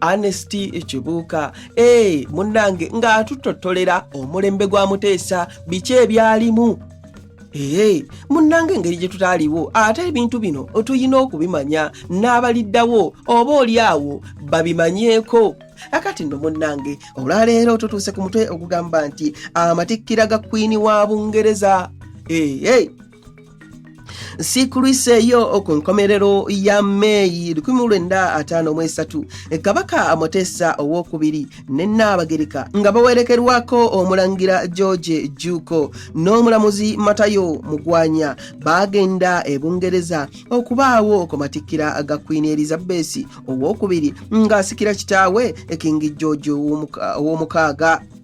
Anesti Ekibuuka e munnange ng'atutottolera omulembe gwa Muteesa biki ebyalimu ee munnanga engeri gye tutaaliwo ate ebintu bino tulina okubimanya n'abaliddawo oba oli awo babimanyeeko akati nno munnange olwaleero tutuuse ku mutwe ogugamba nti amatikkira ga kwini wa bungereza ee siikuluiseeyo ku nkomerero ya meeyi 1953 e kabaka muteesa owokubiri ne nnaabagereka nga bawerekerwako omulangira george juuko n'omulamuzi matayo mugwanya baagenda e bungereza okubaawo okumatikkira ga kwini elizabesi owokubiri ng'asikira kitaawe ekingi george ow'omukaaga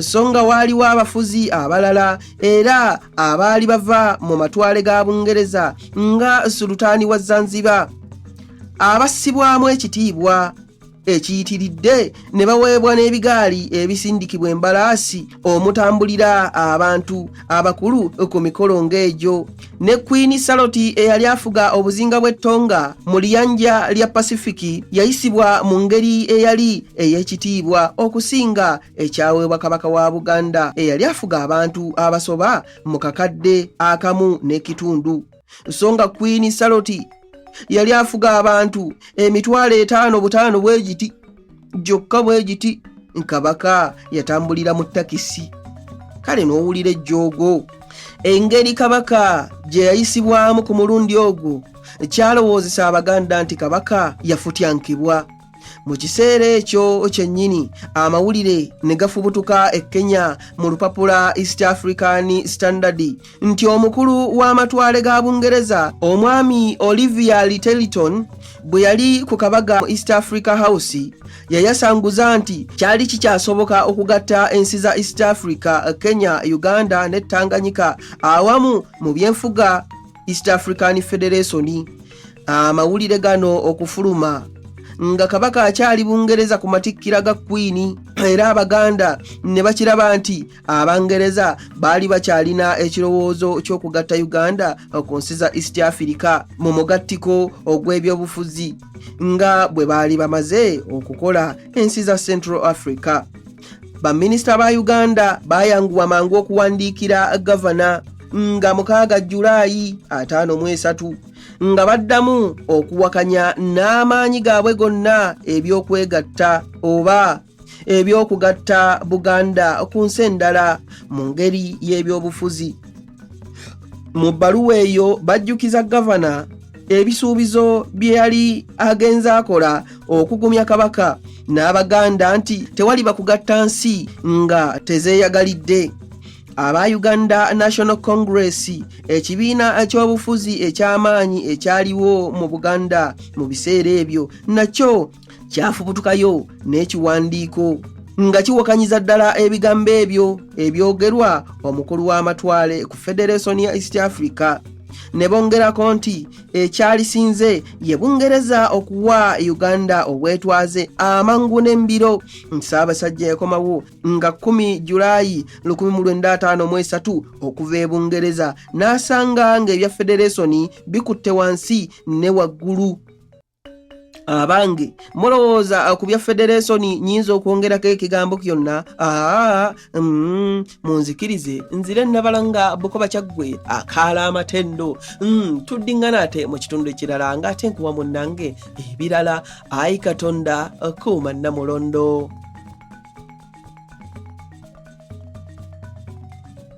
so nga waaliwo abafuzi abalala era abaali bava mu matwale ga bungereza nga sulutaani wa zanzibar abassibwamu ekitiibwa ekiyitiridde ne baweebwa n'ebigaali ebisindikibwa embalaasi omutambulira abantu abakulu ku mikolo ng'egyo ne Queen Saloti eyali afuga obuzinga bw'e Tonga mu liyanja lya Pasifiki yayisibwa mu ngeri eyali ey'ekitiibwa okusinga ekyaweebwa Kabaka wa Buganda eyali afuga abantu abasoba mu kakadde akamu n'ekitundu so nga Queen Saloti yali afuga abantu emitwalo etaano butaano bwe giti gyokka bwe giti kabaka yatambulira mu takisi kale n'owulira ejjoogo engeri kabaka gye yayisibwamu ku mulundi ogwo kyalowoozesa abaganda nti kabaka yafutyankibwa mu kiseera ekyo kyennyini amawulire ne gafubutuka e kenya mu lupapula east african standard nti omukulu w'amatwale ga bungereza omwami olivia liteliton bwe yali ku kabaga mu east africa house yayasanguza nti kyali kikyasoboka okugatta ensi za east africa kenya uganda ne tanganyika awamu mu byenfuga east african federation amawulire gano okufuluma nga kabaka akyali bungereza ku matikkira ga kwini era abaganda ne bakiraba nti abangereza baali bakyalina ekirowoozo ky'okugatta uganda ku nsi za east africa mu mugattiko ogw'ebyobufuzi nga bwe baali bamaze okukola ensi za central africa baminisita ba uganda baayanguwa mangu okuwandiikira gavana nga mukaaga julaayi ataano mu esatu nga baddamu okuwakanya n'amaanyi gaabwe gonna eby'okwegatta oba eby'okugatta buganda ku nsi endala mu ngeri y'ebyobufuzi mu bbaluwa eyo bajjukiza gavana ebisuubizo bye yali agenze akola okugumya kabaka n'abaganda nti tewali bakugatta nsi nga tezeeyagalidde aba uganda national congress ekibiina ky'obufuzi eky'amaanyi ekyaliwo mu buganda mu biseera ebyo nakyo kyafubutukayo n'ekiwandiiko nga kiwakanyiza ddala ebigambo ebyo ebyogerwa omukulu w'amatwale ku federeesoni ya east africa ne bongerako nti ekyalisinze ye bungereza okuwa uganda obwetwaze amangu n'embiro nsaabasajja yakomawo nga 1 julayi 1953 okuva e bungereza n'asanga ng'ebya federeesoni bikutte wansi ne waggulu abange mulowooza ku bya federeesoni nyinza okwongerako ekigambo kyonna aa mm, munzikirize nzire nabalanga bukoba kyaggwe akaala amatendo mm, tuddiŋŋana ate mu kitundu ekirala nga ate nkuwa munnange ebirala ayi katonda kuuma namulondo